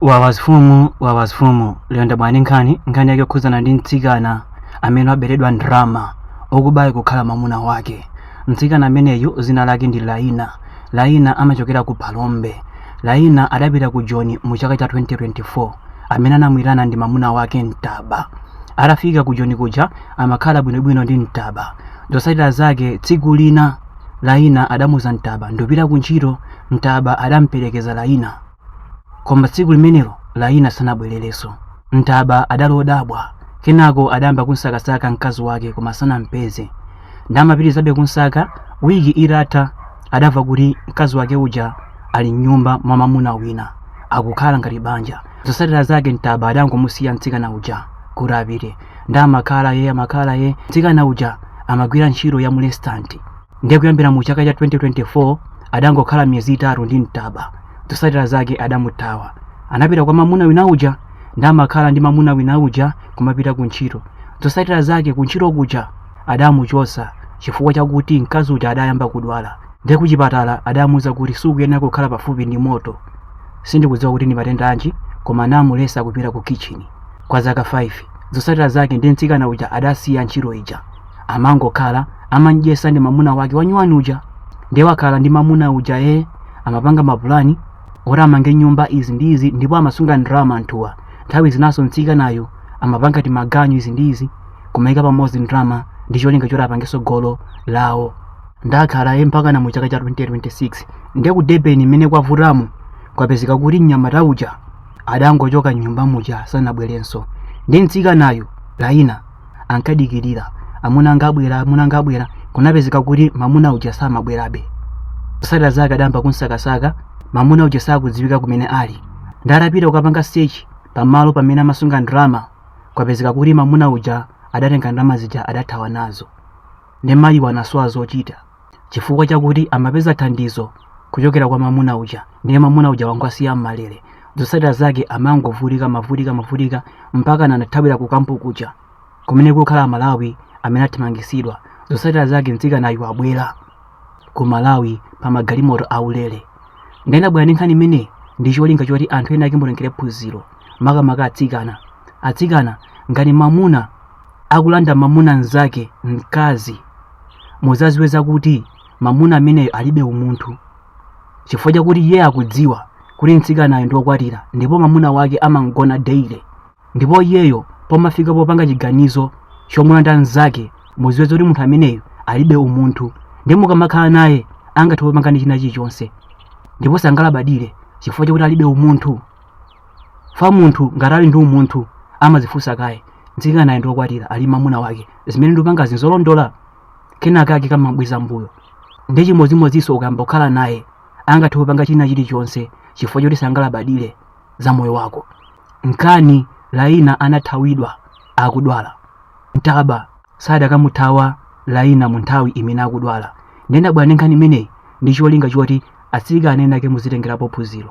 wawazfumu wawazfumu lero ndabwera ndi nkhani nkhani yake yokhuzana ndi mtsikana amene waberedwa ndrama okubayo kukhala mwamuna wake mtsikana ameneyu zina lake ndi laina laina amachokera ku phalombe laina adapita ku joni mu chaka cha 2024 amene anamuitana ndi mamuna wake mtaba atafika ku joni kuja amakhala bwinobwino ndi mtaba zotsatira zake tsiku lina laina adamuuza mtaba ndikupita ku ntchito mtaba adamperekeza laina Koma tsiku limenelo Laina sanabwererenso. Mtaba adali odabwa. Kenako adayamba kumsakasaka mkazi wake koma sanampeze. Nde amapitirizabe kumsaka, wiki itatha adamva kuti mkazi wake uja ali m'nyumba mwa mamuna wina akukhala ngati banja. Zotsatira zake Mtaba adangomusiya mtsikana uja kuti apite. Nde amakhala ye amakhala ye, mtsikana uja amagwira ntchito ya mu resitanti. ndiye kuyambira mu chaka cha 2024 adangokhala miyezi itatu ndi mtaba zotsatira zake adamuthawa anapita kwa mamuna wina uja nde amakhala ndi mamuna wina uja kumapita ku ntchito zotsatira zake ku ntchito kuja adamuchotsa chifukwa chakuti mkazi uja adayamba kudwala ndiye kuchipatala adamuuza kuti sukuyenera kukhala pafupi ndi moto sindikudziwa kuti ndi matenda anji koma anamuletsa kupita ku kitchini kwa zaka 5 zotsatira zake nde mtsikana uja adasiya ntchito ija amangokhala amamudyetsa ndi mamuna wake wanyuwani uja ndiye wakhala ndi mamuna uja ee amapanga mapulani oti amange nyumba izi ndi izi ndipo amasunga ndalama anthuwa nthawi zinaso mtsikanayo amapanga timaganyu izi ndi izi kumaika pamodzi ndalama ndi cholinga choti apangeso golo lawo nde akhala ye mpakana mu chaka cha 2026 ndiye ku debeni mmene kwavutamo kwapezeka kuti mnyamata uja adangochoka mnyumba muja sanabwerenso nde mtsikanayo laina ankadikirira amuna anga abwera amuna anga abwera kunapezeka kuti mamuna uja samabwerabe zotsatira zake adayamba kumsakasaka mamuna uja sakudziwika kumene ali nde atapita kukapanga search pamalo pamene amasunga ndalama kwapezeka kuti mamuna uja adatenga ndalama zija adathawa nazo nde mayiwa anasowa zochita chifukwa chakuti amapeza thandizo kuchokera kwa mamuna uja ndiye mamuna uja wangowasiya mmalere zotsatira zake amangovutika mavutika mavutika mpakana anathawira ku kampu kuja kumene kukukhala amalawi amene athamangisidwa zotsatira zake mtsikanayu wabwera ku malawi pa magalimoto aulere nde ndabwera ndi nkhani imeneyi ndi cholinga choti anthu enaake mutengere phunziro makamaka atsikana atsikana ngati mamuna akulanda mamuna mnzake mkazi muzaziwe zakuti mamuna ameneyo alibe umunthu chifukwa chakuti iye akudziwa kuti mtsikanayo ndi wokwatira ndipo mamuna wake amamuona daily ndipo iyeyo pomafika popanga chiganizo chomulanda mnzake muziwe zakuti munthu ameneyo alibe umunthu nde mukamakhala naye angathe kukupangani china chilichonse ndipo sangalabadire chifukwa chakuti alibe umunthu fa munthu ngati ali ndi umunthu amazifunsa kaye mtsikanayu ndi okwatira ali ndi mamuna wake zimene ndikupangazi n'zolondola kenaka ake kamabweza mbuyo ndi chimodzimodzinso ukayamba kukhala naye angathe kupanga china chilichonse chifukwa choti sangalabadire za moyo wako nkani laina anathawidwa akudwala mtaba sadakamuthawa laina mu nthawi imene akudwala ndendabwera ndi nkhani imeneyi ndi cholinga choti atsikana ena ake muzitengerapo phunziro